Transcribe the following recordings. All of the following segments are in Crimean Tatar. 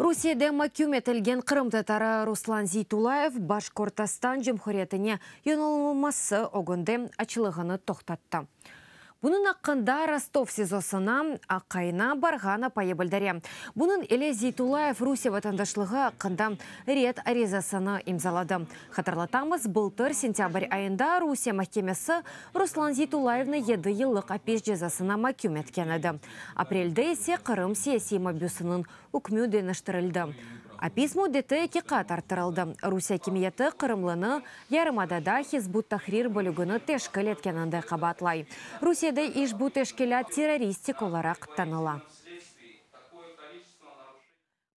Rusiyede maküm etilgen qırımtatarı Ruslan Zeytullayev Başkortastan Cumhuriyetine yonulılması ögünde açlığını toqtattı. Bunıñ aqqında Rostov SİZOsına aqayına barğan apayı bildire. Bunıñ ile Zeytullayev Rusiye vatandaşlığı aqqında red arizasını imzaladı. Hatırlatamız, bıltır sentâbr ayında Rusiye mahkemesi Ruslan Zeytullayevni yedi yıllıq apis cezasına maküm etken edi. Aprelde ise Qırım siyasiy mabüsiniñ ükmü deñiştirildi. Apis müddeti eki qat arttırıldı. Rusiye akimiyeti qırımlını yarımadada Hizb ut-Tahrir bölügini teşkil etkeninde qabaatlay. Rusiyede işbu teşkilât terroristik olaraq tanıla.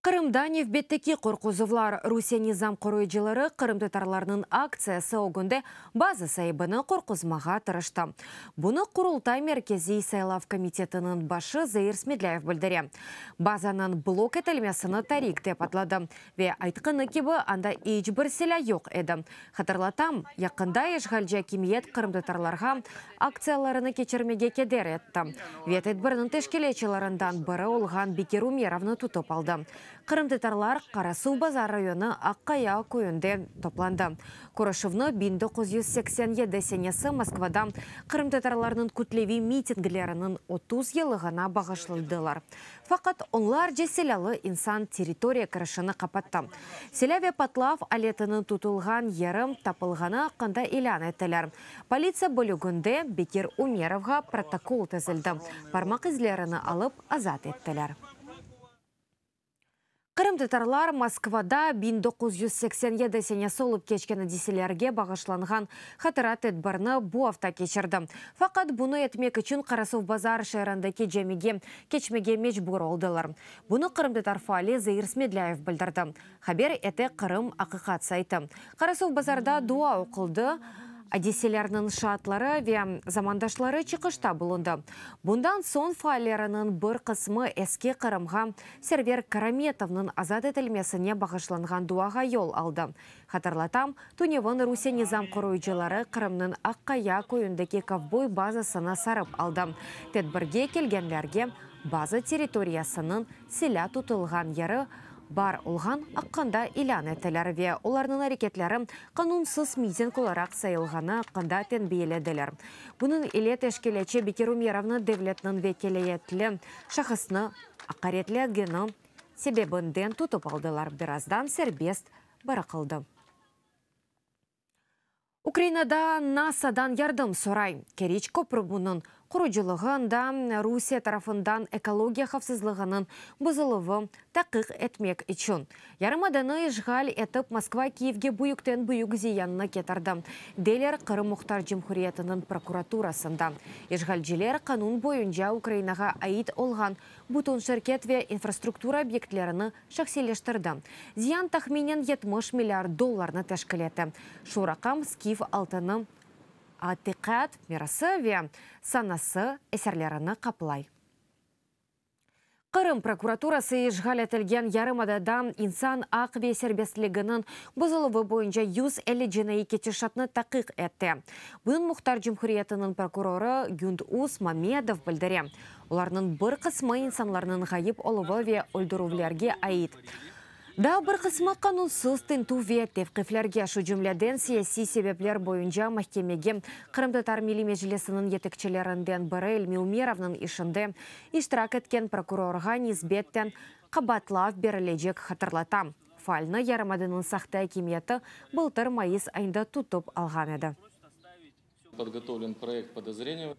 Qırımda nevbetteki qorquzuvlar. Rusiye nizam qoruyıcıları qırımtatarlarnıñ aktsiyası ögünde bazı saibini qorquzmağa tırıştı. Bunı Qurultay Merkeziy saylav komitetiniñ başı Zair Smedlâyev bildire. Bazanıñ blok etilmesini tarik dep adladı ve aytqanı kibi, anda iç bir silâ yoq edi. Hatırlatam, yaqında işğalci akimiyet qırımtatarlarğa aktsiyalarını keçirmege keder etti ve tedbirniñ teşkilâtçılarından biri olğan Bekir Umerovnı tutıp aldı. Qırımtatarlar Qarasuv Bazar rayonı Aqqaya köyünde toplandı. Körüşüvni biñ doquz yüz seksen yedi senesi Moskvada qırımtatarlarnıñ kütleviy mitingleriniñ otuz yılığına bağışladılar. Faqat onlarca silâlı insan territoriya kirişini qapattı. Silâ ve patlav aletiniñ tutulğan yeri tapılğanı aqqında ilân ettiler, Politsiya bölüginde Bekir Ümerovğa protokol tizildi, parmaq izlerini alıp, azat ettiler. Qırımtatarlar Moskvada biñ doquz yüz seksen yedi senesi olıp keçken adiselerge bağışlanğan hatıra tedbirini bu afta keçirdi. Faqat bunı etmek içün Qarasuvbazar şeerindeki camige keçmege mecbur oldılar. Bunı qırımtatar faali Zair Smedlâyev bildirdi. Haber ete Qırım. Aqiqat saytı. Qarasuvbazarda dua oquldı, adiselerniñ şaatları ve zamandaşları çıqışta bulundı. Bundan soñ faalleriniñ bir qısmı Eski Qırımğa Server Karametovnıñ azat etilmesine bağışlanğan duağa yol aldı. Hatırlatam, tünevin Rusiye nizam qoruyıcıları Qırımnıñ Aqqaya köyündeki kovboy bazasını sarıp aldı, tedbirge kelgenlerge baza territoriyasınıñ silâ tutulğan yeri bar olğan aqqında ilân ettiler ve olarnıñ areketleri qanunsız miting olaraq sayılğanı aqqında tenbiyelediler, bunıñ ile teşkilâtçı Bekir Umerovnı devletniñ vekâliyetli şahısnı aqaretlegeni sebebinden tutıp aldılar, birazdan serbest bıraqıldı. Ukrainada NASAdan yardım soray. Keriç köprübunıñ qurucılığı ında Rusiye tarafından ekologiya havfsızlığınıñ buzuluvı taqiq etmek içün. Yarımadanı işğal etip Moskva Kiyevge büyükten büyük ziyannı ketirdi, deyler Qırım Muhtar Cumhuriyetiniñ prokuraturasında. İşğalciler qanun boyunca Ukrainağa ait olğan bütün şirket ve infrastruktura obyektlerini şahsiyleştirdi. Ziyan tahminen yetmiş milliard dollarnı teşkil etti. Şu raqam skif altını, atiqat mirası ve sanası eserlerini qaplay. Qırım prokuraturası işğal etilgen yarımadada insan aq ve serbestliginiñ bozuluvı boyunca yüz elli cinaiy ketişatnı taqiq etti. Bunıñ Muhtar Cumhuriyetiniñ prokurorı Gündüz Mamedov bildire. Olarnıñ bir qısmı insanlarnıñ ğayıp oluvı ve öldürüvlerge ait. Daa bir qısmı qanunsız tintüv ve tevqiflerge, şu cümleden siyasiy sebepler boyunca mahkemege Qırımtatar Milliy Meclisiniñ yetekçilerinden biri İlmi Ümerovnıñ işinde iştirak etken prokurorğa nisbeten qabaatlav berilecek, hatırlatam. Faalnı yarımadanıñ sahte akimiyeti bıltır mayıs ayında tutıp alğan edi.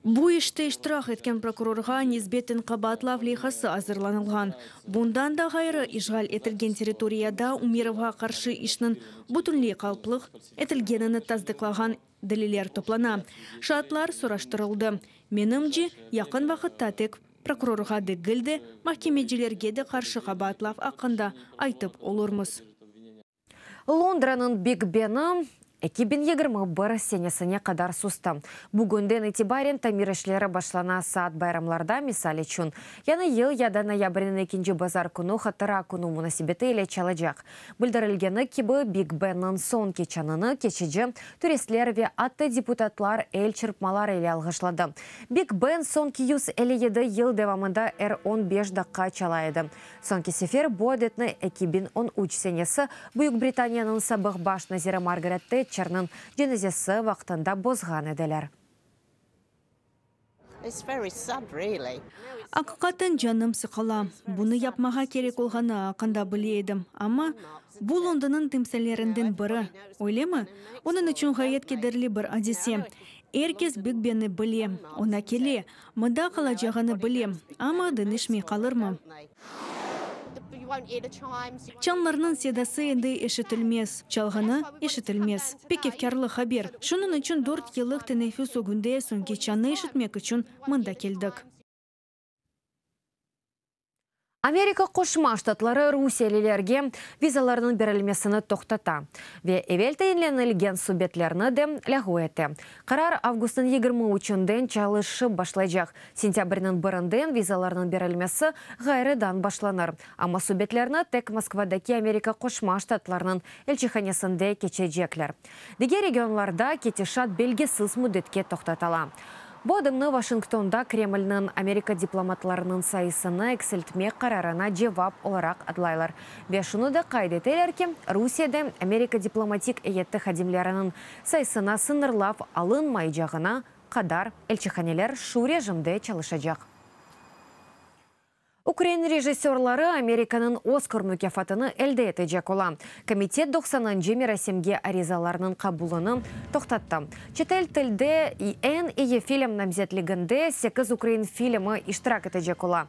Bu işte iştirak etken prokurorğa nisbeten qabaatlav leyhası azırlanılğan. Bundan da ğayrı, işğal etilgen territoriyada Ümerovğa qarşı işniñ bütünley qalplıq etilgenini tasdıqlağan deliller toplana, şaatlar soraştırıldı. Menimce, yaqın vaqıtta tek prokurorğa degil de, mahkemecilerge de qarşı qabaatlav aqqında aytıp olurmız. Londranıñ Big Beni eki biñ yigirmi bir senesine qadar sustı. Bugünden itibaren tamir işleri başlana, saat bayramlarda, misal içün, Yañı yıl ya da noyabrniñ ekinci bazar künü Hatıra künü munasebeti ile çalacaq. Bildirilgeni kibi, Big Beniñ soñki çanını keçici turistler ve atta deputatlar el çırpmaları ile alğışladı. Big Ben soñki yüz elli yedi yıl devamında er on beş daqqa çala edi. Soñki sefer bu adetni eki biñ on üç senesi Büyük Britaniyanıñ sabıq baş naziri Margaret Tetçerniñ cenazesi vaqtında bozğan ediler. Aqiqaten canım sıqıla. Bunı yapmağa kerek olğanı aqında bile edim, amma bu Londonıñ timsallerinden biri, öylemi? Onıñ içün ğayet kederli bir adise. Er kes Big Benni bile, oña kele, Mında qalacağını bilem, amma dinişmey qalırmı? Çanlarnıñ sedası endi eşitilmez, çalğını eşitilmez. Pek efkârlı haber. Şunıñ içün dört yıllıq teneffüs ögünde soñki çannı eşitmek içün mında keldik. Amerika Qoşma Ştatları rusiyelilerge vizalarnıñ berilmesini toqtata ve evel tayinlenilgen subetlerni de lâğu ete. Qarar avgustnıñ yigirmi üçünden çalışıp başlaycaq. Sentâbrniñ birinden vizalarnıñ berilmesi ğayrıdan başlanır, amma subetlerni tek Moskvadaki Amerika Qoşma Ştatlarnıñ elçihanesinde keçecekler. Diger regionlarda ketişat belgisiz müddetke toqtatala. Bu adımnı Washingtonda Kremlniñ Amerika diplomatlarınıñ sayısını eksiltmek qararına cevap olaraq adlaylar ve şunı da qayd eteler ki, Rusiyede Amerika diplomatik eyyeti hadimleriniñ sayısına sıñırlav alınmaycağına qadar elçihaneler şu rejimde çalışacaq. Ukrain rejissörları Amerikanıñ Oskar mukâfatını elde etecek ola. Komitet doqsanıncı merasimge arizalarnıñ qabulını toqtattı. Çetel tilde eñ iyi film namzetliginde sekiz ukrain filmi iştirak etecek ola.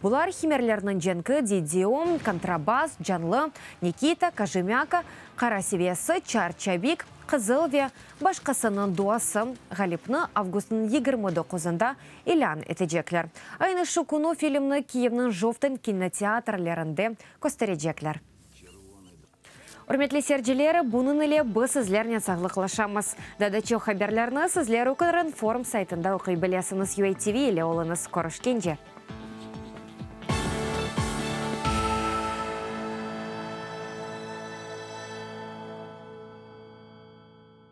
Bular, Himerlerniñ cenki, Didio, Kontrabas, Canlı, Nikita, Kojemâka, Qara seviyası, Çar çabik, Qızıl ve başqasınıñ duası, Ğalipni avgustnıñ yigirmi doquzında ilân etecekler. Aynı şu künü filmni Kiyevniñ Jovten kinoteatrlerinde kösterecekler. Ürmetli seyirciler, bunıñ ile biz sizlernen sağlıqlaşamız. Daa da çoq haberlerni sizler Ukrinform saytında oquy bilesiñiz. UA TV ile oluñız, körüşkence!